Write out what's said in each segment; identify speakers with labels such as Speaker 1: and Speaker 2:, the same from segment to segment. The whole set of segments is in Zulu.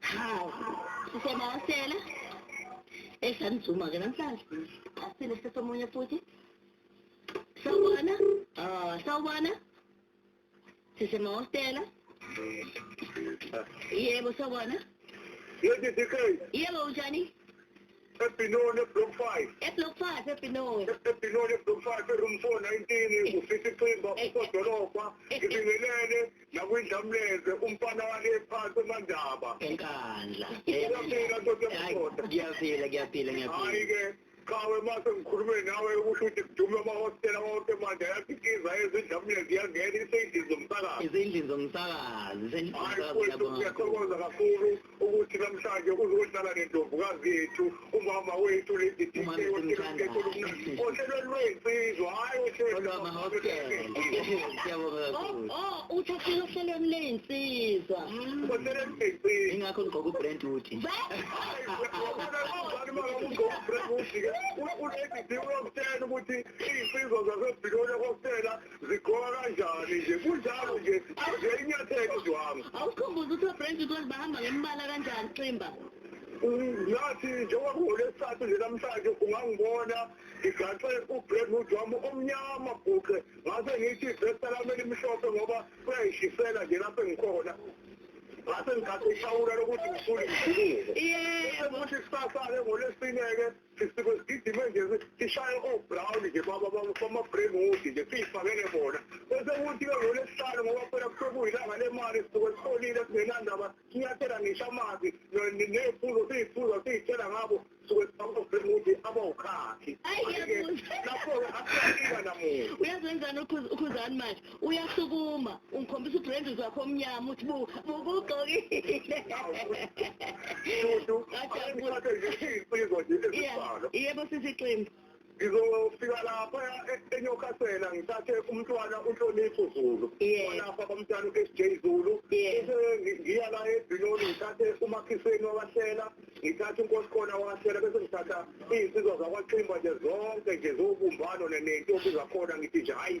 Speaker 1: Hawu, sisebayasela. Esanizuma ke namhlanje. Asile sesomunye futhi. Sawubona. Ah, sawubona. Sisemahostela. Yebo, sawubona. Yebo,
Speaker 2: sikhona. Yebo, unjani?
Speaker 1: eBinoni
Speaker 2: eBlock 5 eBlock
Speaker 1: 5 eBinoni eBinoni
Speaker 2: eBlock 5 eRoom 419 kufisa iqimba ukodolobha ngibingelele nakwindlamleze umfana wale phansi emandaba enkandla
Speaker 3: ngiyafika ndoda
Speaker 2: yamadoda ngiyafika ngiyafika
Speaker 3: ngiyafika hayi ke
Speaker 2: qhawe mase ngikhulume nawe ukusho ukuthi kudume amahostela wonke manje ayakhiqiza ezindlamule ziyangena iseyidini zomsakazi ezindlini zomsakazi hayi kwethu siyathokoza kakhulu ukuthi namhlanje uzohlala nendlovukazi yethu umama wethu lady DJ ohlelweni lwensizwa hayi ohlelweni
Speaker 1: uthi ohlelo ohlelweni lensizwa ohlelweni
Speaker 3: lensizwa ingakho ngigqoka ubrand wood
Speaker 2: ulady D uyokutshela ukuthi iy'nsizwa zasebhiloni okokutshela zigqoka kanjani nje kunjalo nje nje inyathelo zihamba awukhumbuza ukuthi obrange
Speaker 1: ukuthi bahamba ngembala kanjani ximba
Speaker 2: ngathi njengoba kuhole isithathu nje namhlanje ungangibona ngigaxe ubreadwood wami omnyama bhuqe ngase ngithi ivesta lami elimhlophe ngoba kuyayishisela nje lapho engikhona ngase ngigade ishawula lokuthi ngisule ngijuluke yebo futhi kusasale ngolesine-ke sigidime nje sishaye o-brown nje bama-bremwood nje siyifakele bona bese kuthi ke ngolesihlanu ngoba phela kusuke kuyilanga lemali sisuke siholile singenandaba sinyathela ngisho amanzi ney'phuzo siy'phuza siy'tshela ngabo suke sibama-bremwood abawukhakhi lapho-ke asiyafika namuntu uyazenzani
Speaker 1: ukhuzani manje uyasukuma ungikhombisa udrendis wakho omnyama uthi bukugqokile yebo sisiqembu ngizofika
Speaker 2: lapha enyokasela ngithathe umntwana unhlonipho zulu lapha bamntwana u-sj zulu bese ngiya la ebhinoni ngithathe umakhiseni wabahlela ngithathe unkosi khona wabahlela bese ngithatha iy'nsizwa zakwaximba nje zonke nje zowubumbano nentombi zakhona ngithi nje hhayi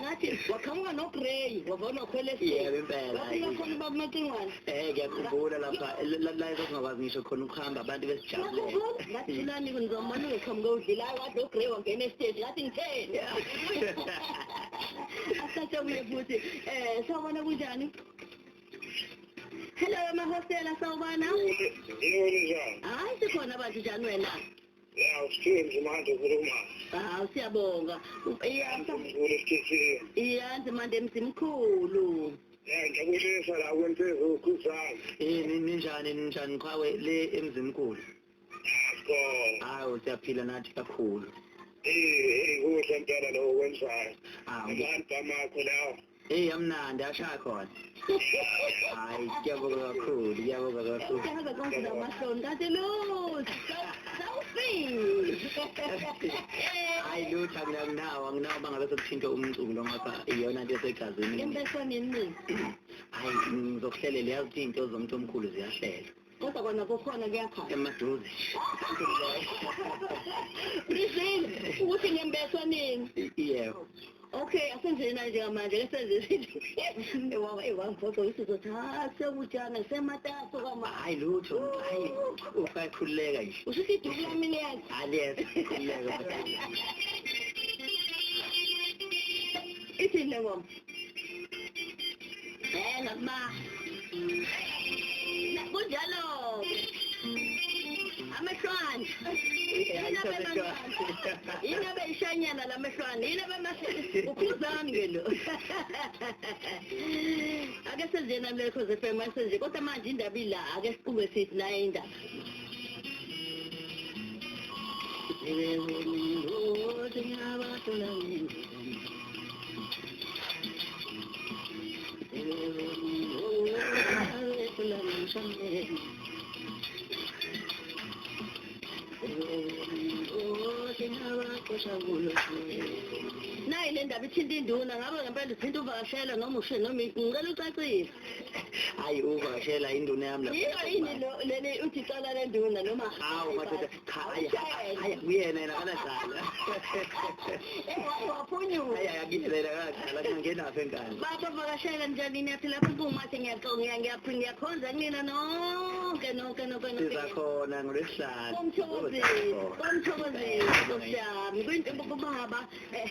Speaker 1: ngathi waqhamuka nogrey wavona wakhwela esibafika khona ubabumacingwane um ngiyakhumbula
Speaker 3: lapha la esasingakwazi ngisho khona ukuhamba abantu besijabulengathilani
Speaker 1: ngizomane ngiqhamuke udlilayo kade ogrey wangena esiteji ngathi ngitheni asasebuye futhi um sawubona kunjani hello amahostela sawubona hayi sikhona bantu njani wena Yeah, usiphile
Speaker 2: mzima hande ukhuluma. Hawu siyabonga.
Speaker 1: Iyasa. Iyanzi manje mzimkhulu. Eh ngiyakuyisa
Speaker 2: la kwensizwa ukhuzana. Eh ninjani
Speaker 3: ninjani qhawe le emzimkhulu. Yebo. Hawu siyaphila nathi kakhulu. Eh eh
Speaker 2: kuhle impela lo wenzayo. Ah, abantu bamakho lawo. Hey amnandi
Speaker 3: ashaya khona. Hayi kuyabonga kakhulu, kuyabonga kakhulu. Siyaza
Speaker 1: konke namahloni kanti lutho. Sawufile. Hayi
Speaker 3: lutho anginawo, anginawo bangabe sokuthinta umculo ngapha iyona into esegazini. Impeswaneni mina.
Speaker 1: Hayi
Speaker 3: ngizokuhlelela yazi into zomuntu omkhulu ziyahlelwa. Kodwa kona kukhona
Speaker 1: kuyakhala. Emaduze. Briefing
Speaker 3: ukuthi ngembeswa
Speaker 1: nini? Yebo. Okay, asenzeni na njengamanje ke senze izinto. Ewawa ewangiphoxa ukuthi uzothatha sekutshana semataso kama. Hayi lutho. Hayi
Speaker 3: usakhuleka nje. Ushithi iduku lami liyazi.
Speaker 1: Aliyeza. Khuleka. Ithini le ngoma? Eh noma kunjalo amehlwane yini abeyishanyana la mehlwane yini abemakhuzami ke lo ake senzena lekho zefm asenze kodwa manje indaba ila ake siqume sithi naye indaba nayi le ndaba ithinta induna ngabe ngempela uthinta uvakashele noma ushe noma ngicela ucacise hayi
Speaker 3: uvakashela induna yami yiyo yini leli uthi
Speaker 1: cala lenduna noma hawu madoda cha
Speaker 3: hayi hayi kuyena yena kanadlala
Speaker 1: waphunyuka hayi akuyena yena
Speaker 3: kanadlala kungenaphi engane baba vakashela njani
Speaker 1: niyathi lapho kumathe ngiyaconga ngiyaphinde ngiyakhonza kunina nonke nonke nonke nonke sizakhona
Speaker 3: ngolwesihlanu komthokozisi
Speaker 1: komthokozisi nkosi yami kwinto kubaba eh,